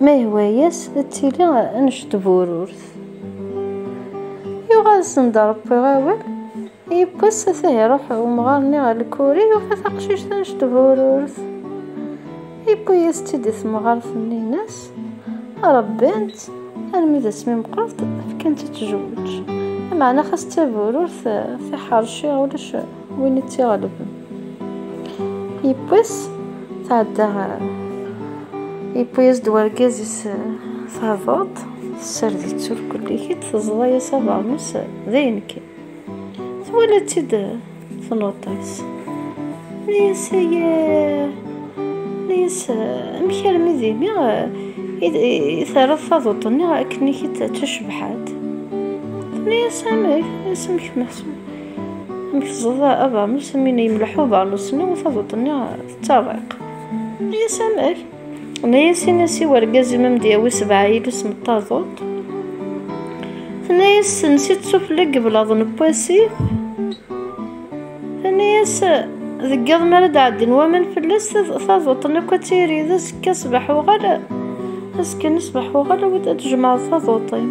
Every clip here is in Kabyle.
Ma yehwa-yas ad tili anect bururt. Yuɣal-sen-d Ṛebbi awal, yiwwas ata iṛuḥ umɣar-nni ɣer Lkuri, yufa taqcict anect bururt. Yewwi-yas-tt-id i temɣart-nni, yenna-as, Ṛebbant, armi d asmi meqqret, fkant-tt-id tjewweǧ. Meɛna xas d tabururt, tiḥeṛci, ulac. win i tt-iɣelben yewwi-s tɛedda ɣer yewwi-yas-d wargaz-is tabuḍt tessard-itt ur kullikit teẓḍa-yas abeṛnus d ayen kan twala-tt-id tnuṭ-is neyes neyes amek armi d imi terreḍ taduṭ-nni akken-ik-id d tacebḥant neyes amek amek meḥsub Mi teẓẓeḍ abernus, mi yemleḥ ubernus-nni, taduṭ-nni tettariq. Yenna-yas amek? Tenna-yas ini-as i wergaz-im ad m-d-yawi sebɛa yilus n taduṭ. Tenna-yas sens-itt sufella n yiblaḍ n wasif. Tenna-yas deg yiḍ mi ara d-ɛeddin waman fell-as, taduṭ-nni akk ad tiri. D azekka ṣṣbeḥ uɣal, azekka-nni ṣṣbeḥ uɣal ad d-tjemɛeḍ taduṭ-im.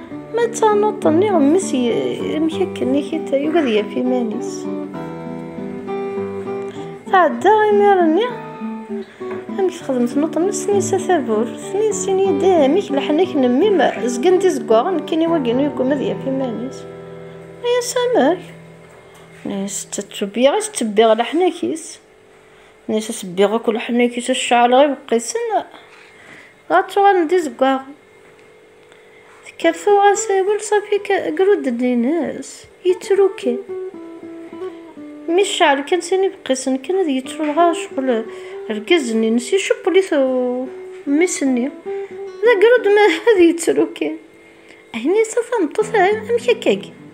Ma d tanuḍt n iɣemmes amek akken i kit yugad yaf iman-is. Tɛedda imir-nni amek texdem tnuḍt n snisa tavurt, tnisin yeddi amek leḥnak n mmi-m zgan d izeggaɣen kkin i waginu yegguma ad yaf iman-is. Nnias amek? Nnias ttebbiɣ i ttebbiɣ leḥnak-is. Nnias ad ttebbiɣ akk leḥnak-is ad ceɛleɣ ibeqqisen ad tuɣalen d izeggaɣen. Tekker tuɣ asawel safi gru-d-ddin-is, yettru kan. Mi cceɛl kan sin ibeqqisen kan ad yettru dɣa ccɣel rgaz-nni-ines iceppel-it mmi-s-nni, d agru-d ma ad yettru kan. Ahin-yas a tameṭṭut amek akka-agi?